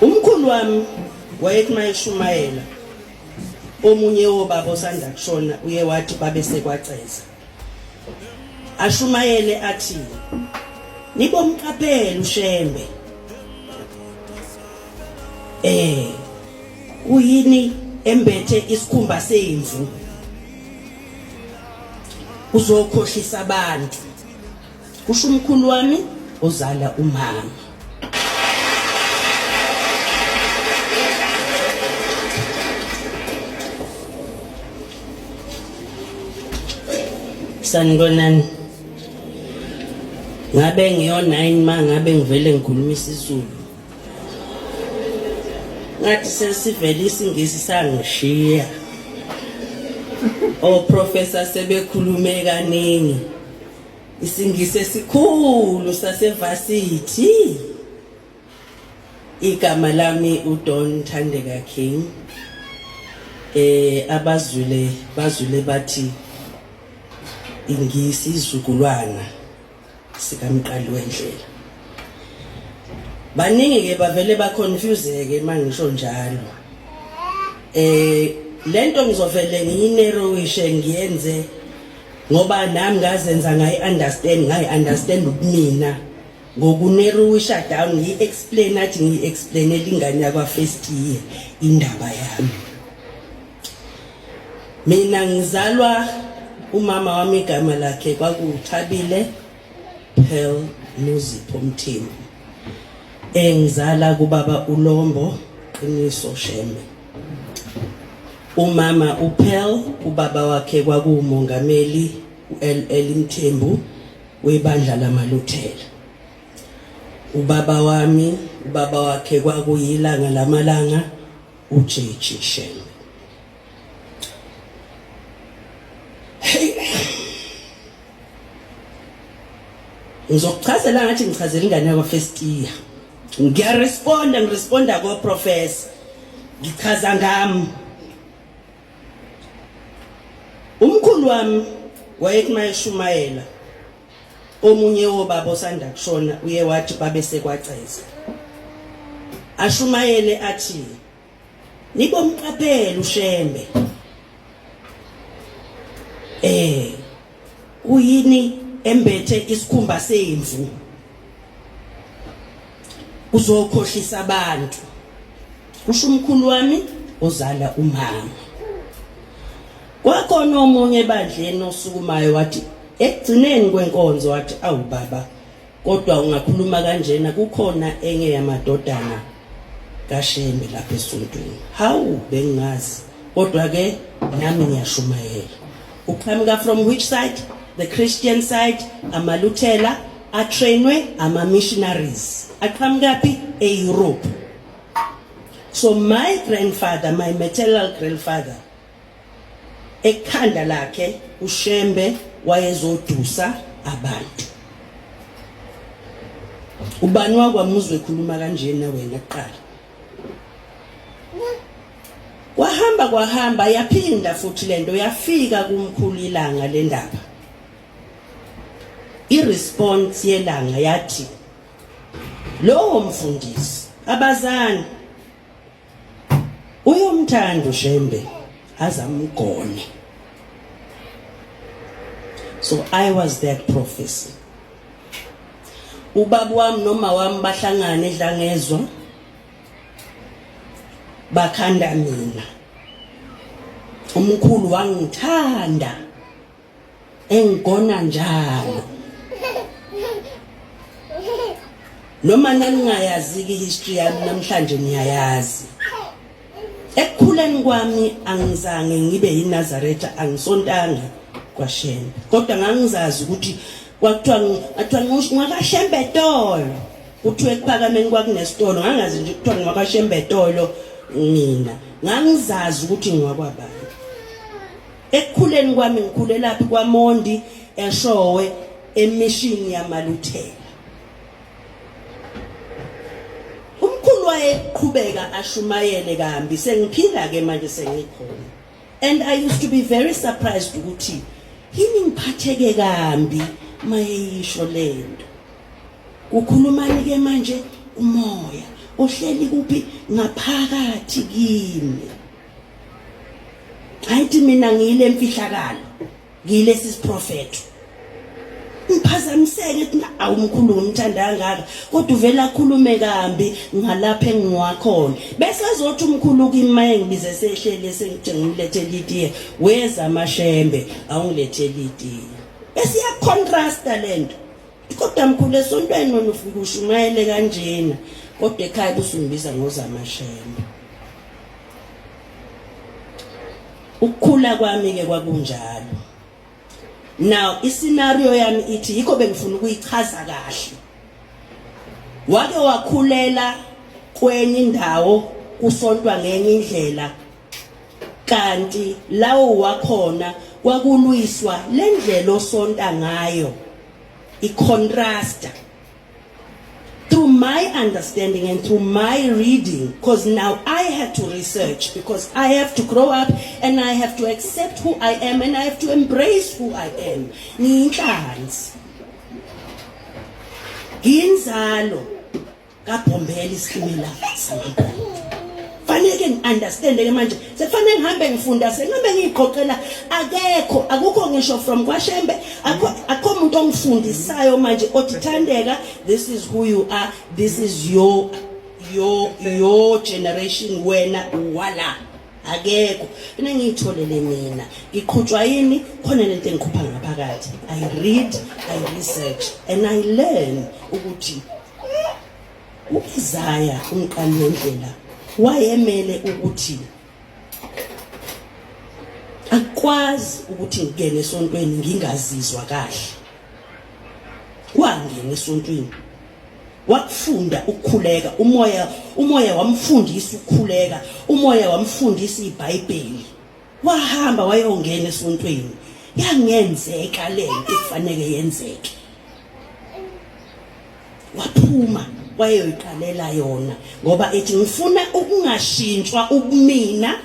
Umkhulu wami wayethi mayeshumayela omunye wobaba osanda kushona uye wathi babe sekwaceza ashumayele athi nibomqaphela ushembe eh uyini embethe isikhumba semvu uzokhohlisa abantu kusho umkhulu wami ozala umama sanibonani ngabe ngiyo-nine ma ngabe ngivele ngikhuluma isizulu ngathi sesivele isingisi sangishiya oprofesa sebekhulume kaningi Isingisi esikhulu sasevasithi. Igama lami uDon Thandeka King. Eh abazwile bazwile bathi ingisi izukulwana sikamqali wendlela. Baningi ke bavele ba confuseke mangisho njalo. Eh lento ngizovele ngiyinero wishe ngiyenze ngoba nami ngazenza ngayi understand ngayi understand ubumina ngokuneruwisha down ngiyi-explain athi ngiyi-explainela ingane yakwa-first year indaba yami mina ngizalwa umama wami igama lakhe kwakuthabile pearl muzipho mthembu engizala kubaba ulombo qiniso shembe Umama uPearl ubaba wakhe kwakuwumongameli uLL Mthembu webandla lamaLuthela. Ubaba wami ubaba wakhe kwakuyilanga lamalanga uJJ Shembe. Hey. Ngizokuchazela ngathi ngichazela ingane yakwa first year. ngiyaresponda ngiresponda koprofesa ngichaza ngami umkhulu wami wayekumashumela omunye wobaba osanda kushona uye wathi babe sekwaceza ashumayele athi nibomqaphela ushembe eh uyini embethe isikhumba semvu uzokhohlisa abantu kusho umkhulu wami ozala umama kwakhona omunye ebandleni osukumayo wathi ekugcineni kwenkonzo wathi awu baba Kodwa ungakhuluma kanjena kukhona enye yamadodana kaShembe lapha esontweni. Hawu bengazi. Kodwa ke nami ngiyashumayela. Uqhamuka from which side? The Christian side, amaLuthela atrainwe ama missionaries. Aqhamuka phi? E-Europe. So my grandfather, my maternal grandfather ekhanda lakhe uShembe wayezodusa abantu ubani wakwamuzwe khuluma kanjena wena kuqala kwahamba kwahamba yaphinda futhi lento yafika kumkhulu ilanga lendaba iresponse yelanga yathi lowo mfundisi abazani Uyomthanda uShembe azamgone. So I was that prophecy. Ubaba wami noma wami bahlangana edlangezwa bakhanda mina. Umkhulu wangithanda. engigona njalo noma naningayaziki history yami namhlanje niyayazi ekukhuleni kwami angizange ngibe yinazaretha angisontanga kwashembe kodwa ngangizazi ukuthi kwakuthiwa athiwa ngwakashembe tolo kuthiwa ekuphakameni kwakunesitolo ngangazi nje kuthiwa ngwakashembe tolo mina ngangizazi ukuthi ngwakwabani Ekukhuleni kwami ngikhulelaphi kwaMondi eShowe emishini yamaluthela. Umkhulu wayeqhubeka ashumayele kambi sengiphila ke manje sengikhona. And I used to be very surprised ukuthi yini ngiphatheke kambi mayeyisho lento. Ukhulumani ke manje umoya ohleli kuphi ngaphakathi kimi. ayithi mina ngiyile mfihlakalo ngiyilesi siprofeto ngiphazamiseke ukuthi awumkhulu ngimthanda kangaka kodwa uvela akhulume kambi ngalapha engiwakhona bese ezothi umkhulu kimi engibize sehlele sengithi ngimlethe litiye weza amashembe awungilethe litiye bese iyacontrasta lento Kodwa mkhulu esontweni wena ufike ushumayele kanjena kodwa ekhaya busungibiza ngozamashembe. Ukukhula kwami ke kwakunjalo. Now iscenario yami ithi yikho bengifuna ukuyichaza kahle. Wake wakhulela kwenye indawo kusontwa ngenye indlela kanti lawo wakhona kwakulwiswa le ndlela osonta ngayo i-contrasta through my understanding and through my reading because now i had to research because i have to grow up and i have to accept who i am and i have to embrace who i am ngiyinhlanzi ngiyinzalo kabhombela isikimela faneke ngi-understande-ke manje sekufanele ngihambe ngifunda sengihambe ngiyigqoqela akekho akukho ngisho from kwashembe akho muntu ongifundisayo manje othi thandeka this is who you are this is your your your generation wena wala akekho mina ngiyitholele mina ngiqhutshwa yini khona lento engikhupha ngaphakathi i read i research and i learn ukuthi U-Isaya umqali wendlela wayemele ukuthi akwazi ukuthi ngingene esontweni ngingazizwa kahle wangena esontweni wakufunda ukukhuleka umoya umoya wamfundisa ukukhuleka umoya wamfundisa iBhayibheli wahamba wayongena esontweni yangenzeka lento kufanele yenzeke waphuma wayeyoyiqalela yona ngoba ethi ngifuna ukungashintshwa ubumina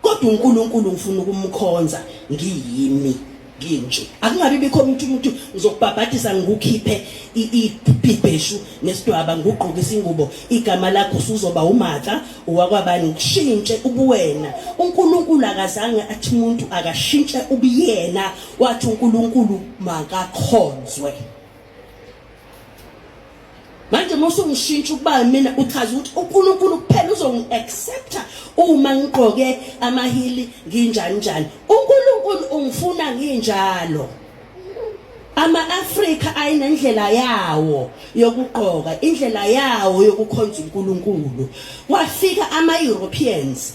kodwa uNkulunkulu ngifuna ukumkhonza ngiyimi nginje akungabi bikho umuntu umuntu uzokubhabhadisa ngikukhiphe ibheshu nesidwaba ngugqoke isingubo igama lakho usuzoba umatha uwakwabani ngishintshe ubuwena uNkulunkulu akazange athi umuntu akashintshe ubuyena wathi uNkulunkulu makakhonzwe manje uma usungishintsha ukuba mina uchaza ukuthi uNkulunkulu kuphela uzongi-accepta uma ngigqoke amahili nginjani njani uNkulunkulu ungifuna nginjalo ama-afrika ayinendlela yawo yokugqoka indlela yawo yokukhonza unkulunkulu kwafika ama-europeans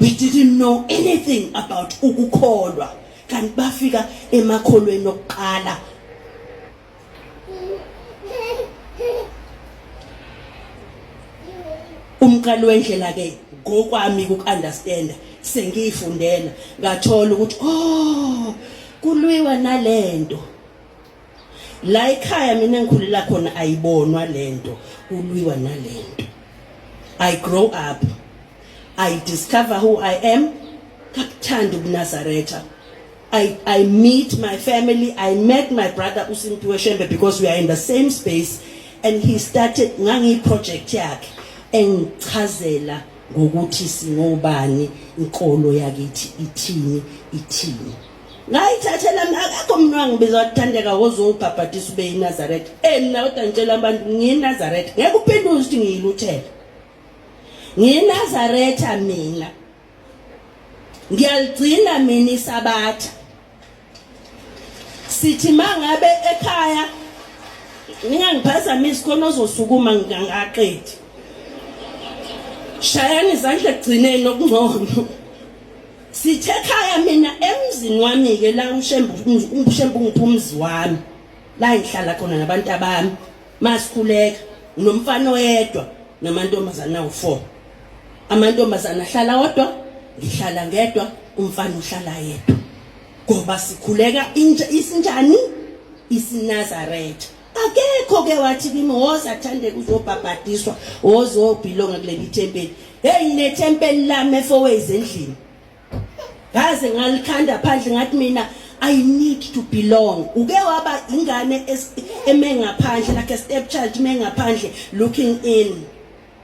we didn't know anything about ukukholwa kanti bafika emakholweni okuqala umqalo wendlela ke ngokwami ukuunderstanda sengiyifundela ngathola ukuthi oh kulwiwa nalento la ekhaya mina ngikhulela khona ayibonwa lento kulwiwa nalento i grow up i discover who i am kakuthanda ubunazaretha I, I meet my family. I met my brother Usimpiwe Shembe because we are in the same space and he started ngangi project yakhe engichazela ngokuthi singobani inkolo yakithi ithini ithini ngayithathela akekho mntu wangibiza wathandeka woze ungibhabhadisa ube yinazaretha emna kodwa ngitshela abantu ngiyinazaretha ngeke uphendule ukuthi ngiyiluthela ngiyinazaretha mina ngiyaligcina mina isabatha sithi mangabe ekhaya ningangiphazamisi khona ozosukuma ngingaqedi shayani izandla ekugcineni okungcono Sithe khaya mina emzini wami ke la uShembu uShembu ngiphumzi wami la ngihlala khona nabantu abami masikhuleka nomfana oyedwa namantombazana awu4 amantombazana ahlala wodwa ngihlala ngedwa umfana uhlala yedwa ngoba sikhuleka intsha isinjani isinazaretha akekho ke wathi kimi woza athande kuzobhabhadiswa wozobhilonga kuleli thempeli heyi nethempeli lami efowezi endlini ngaze ngalikhanda phandle ngathi mina I need to belong uke waba ingane eme ngaphandle like a stepchild eme ngaphandle looking in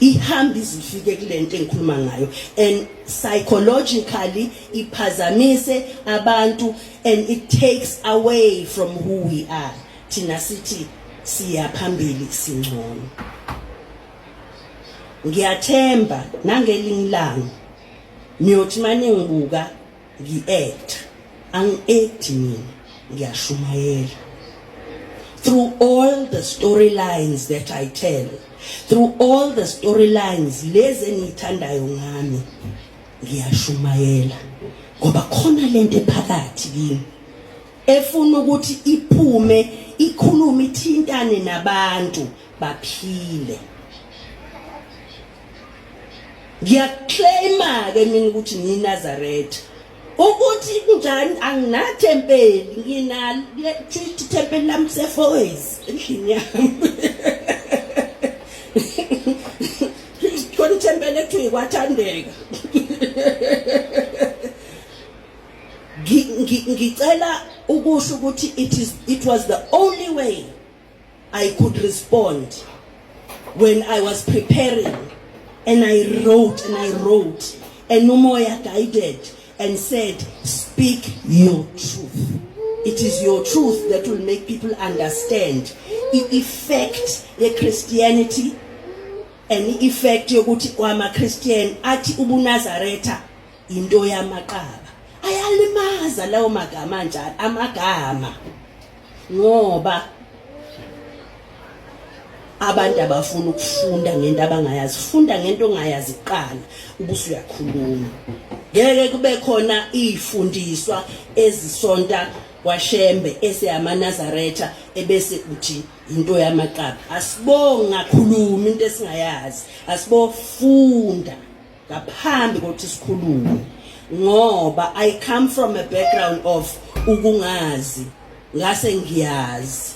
ihamba izifike kulento engikhuluma ngayo and psychologically iphazamise abantu and it takes away from who we are thina sithi siya phambili singcono ngiyathemba nangelinye ilanga niyothi maningibuka ngi-act angi-acti mina ngiyashumayela through all the storylines that i tell through all the storylines lezi engiyithandayo ngami ngiyashumayela ngoba khona lento ephakathi kimi efuna ukuthi iphume ikhulume ithintane nabantu baphile ngiyaclaima-ke mina ukuthi ngiyinazaretha ukuthi kunjani anginatempeli nginalo kusho ithempeli lami sefoways endlini yami khona ithempeli ekuthiwa ikwathandeka ngicela ukusho ukuthi it, is, it was the only way I could respond when I was preparing and I wrote and I wrote and Umoya guided and said speak your truth it is your truth that will make people understand the effect ye Christianity and the effect yokuthi kwama Christian athi ubunazaretha into yamaqaba ayalimaza lawo magama njalo amagama ngoba abantu abafuna ukufunda ngento abangayazi funda ngento ongayazi kuqala ubuse uyakhuluma ngeke kube khona izifundiswa ezisonta kwashembe eseyamanazaretha ebese uthi into yamaqaba asibonga khuluma into esingayazi asibofunda ngaphambi kokuthi sikhulume ngoba i come from a background of ukungazi ngase ngiyazi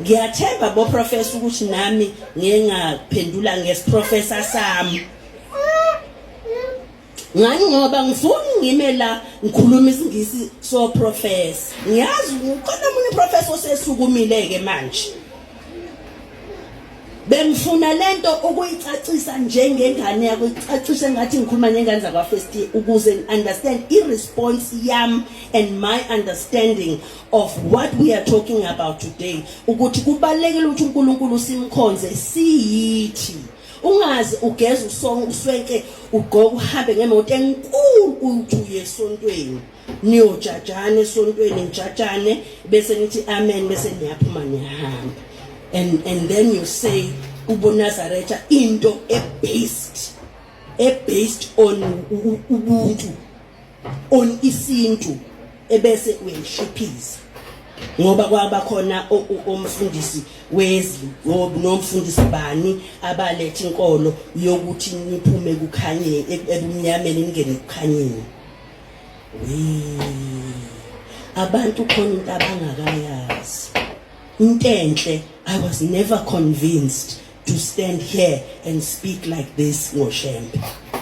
ngiyathemba bo professor ukuthi nami ngengaphendula ngesiprofessor sami ngani ngoba ngifuni ngime la ngikhuluma isingisi so professor ngiyazi ukhona umuntu professor osesukumile ke manje bengifuna lento ukuyicacisa njengengane yakho icacise ngathi ngikhuluma nengane zakwa first year ukuze understand i response yam and my understanding of what we are talking about today ukuthi kubalekile ukuthi uNkulunkulu simkhonze siyithi ungazi ugeza usonke uswenke ugqoka uhambe ngemoto enkulu uthi uyesontweni niyojajana esontweni nijajane bese nithi amen bese niyaphuma niyahamba and and then you say ubonazaretha into ebased ebased on ubuntu on isintu ebese uyayishiphiza ngoba kwaba khona omfundisi wezwi nomfundisi bani abalethe inkolo yokuthi niphume kukhanye ebumnyameni ningene kukhanyeni abantu khona into abangakayazi intenhle i was never convinced to stand here and speak like this ngoshembe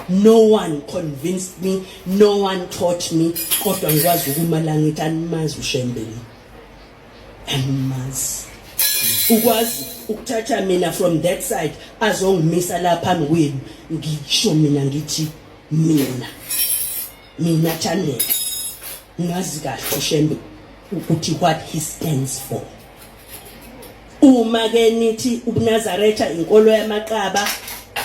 no one convinced me no one taught me kodwa ngikwazi ukuma la ngithi animazi ushembe lo animazi ukwazi ukuthatha mina from that side azongimisa la phambi kwenu ngisho mina ngithi mina mina Thandeka ngazi kahle uShembe ukuthi what he stands for uma ke nithi ubunazaretha inkolo yamaqaba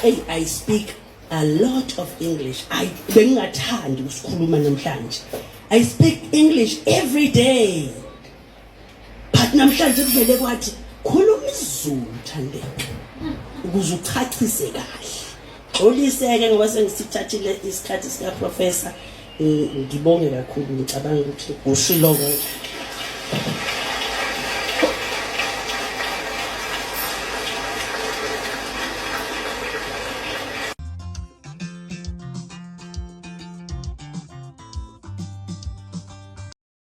hey i speak a lot of english i bengingathandi ukusikhuluma namhlanje i speak english every day but namhlanje kuvele kwathi khuluma izulu thandeka ukuze uchachise kahle xoliseke ngoba sengisithathile isikhathi sika professor ngibonge kakhulu ngicabanga ukuthi ushilo konke